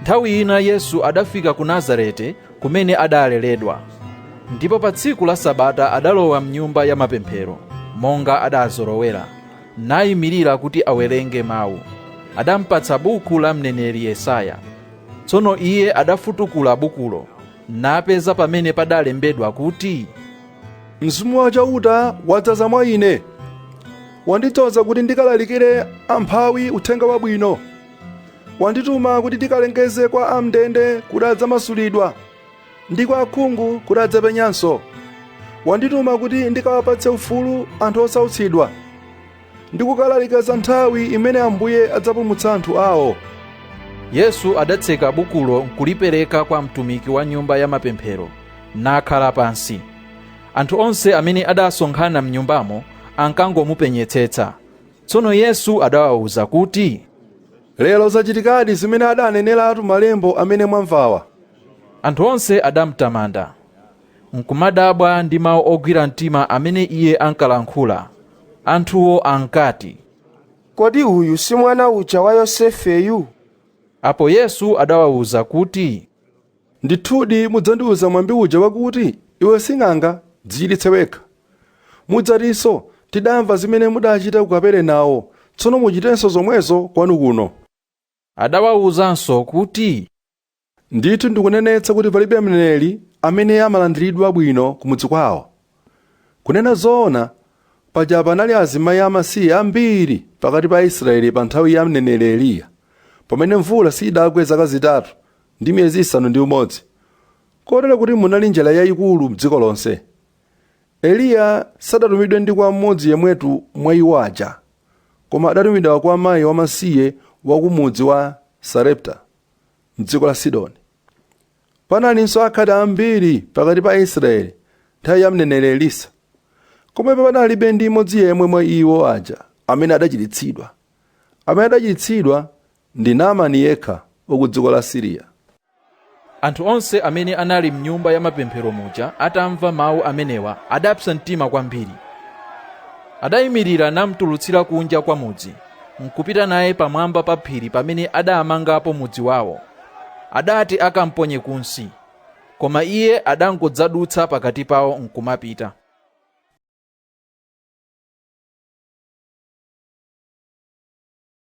nthawi ina yesu adafika ku nazarete kumene adaleredwa ndipo pa tsiku la sabata adalowa mnyumba ya mapemphero monga adazolowera nayimirira kuti awerenge mawu adampatsa buku la mneneri yesaya tsono iye adafutukula bukulo napeza pamene padalembedwa kuti mzimu wa chauta wadzaza mwa ine wandidzoza kuti ndikalalikire amphawi uthenga wabwino wandituma kuti ndikalengeze kwa amndende kuti adzamasulidwa ndi kwa akhungu kuti adzapenyanso wandituma kuti ndikawapatse ufulu anthu osautsidwa ndi kukalalika za nthawi imene ambuye adzapulumutsa anthu awo yesu adatseka bukulo nkulipereka kwa mtumiki wa nyumba ya mapemphero nakhala pansi anthu onse amene adasonkhana mnyumbamo ankangomupenyetsetsa tsono yesu adawawuza kuti lero zachitikadi zimene adaneneratu malembo amene mwamvawa anthu onse adamtamanda n'kumadabwa ndi mawu ogwira mtima amene iye ankalankhula. Anthuwo ankati, Kodi uyu si mwana uja wa Yosefeyu? Apo Yesu adawawuza kuti, Ndithudi mudzandiwuza mwambi uja wakuti, Iwe sing'anga, dzichiritse wekha. Mudzatinso, Tidamva zimene mudachita ku Kaperenawo, tsono muchitenso zomwezo kwanu kuno. Adawawuzanso kuti, Ndithu ndikunenetsa kuti palibe mneneri amene amalandiridwa bwino kumudzi kwawo. Kunena zoona, paja panali azimayi amasiye ambiri pakati pa Aisraele pa nthawi ya mneneri Eliya, pamene mvula siidagwe zaka zitatu ndi miyezi isanu ndi umodzi, kotero kuti munali njala yaikulu m'dziko lonse. Eliya sadatumidwe ndi kwa mmodzi yemwetu mwa iwo aja, koma adatumidwa kwa mai wamasiye wa ku mudzi wa Sarepta. m'dziko la Sidoni. Panalinso akhate ambiri pakati pa Aisraeli nthawi ya mneneri Elisa. Komabe panalibe ndi mmodzi yemwe mwa iwo aja amene adachiritsidwa. Amene adachiritsidwa ndi Naamani yekha wa ku dziko la Siriya. Anthu onse amene anali m'nyumba ya mapemphero muja atamva mawu amenewa adapsa mtima kwambiri. Adayimirira namtulutsira kunja kwa mudzi. n'kupita naye pamwamba pa phiri pamene adaamangapo mudzi wao. Adati akamponye kunsi, koma iye adangodzadutsa pakati pao n'kumapita.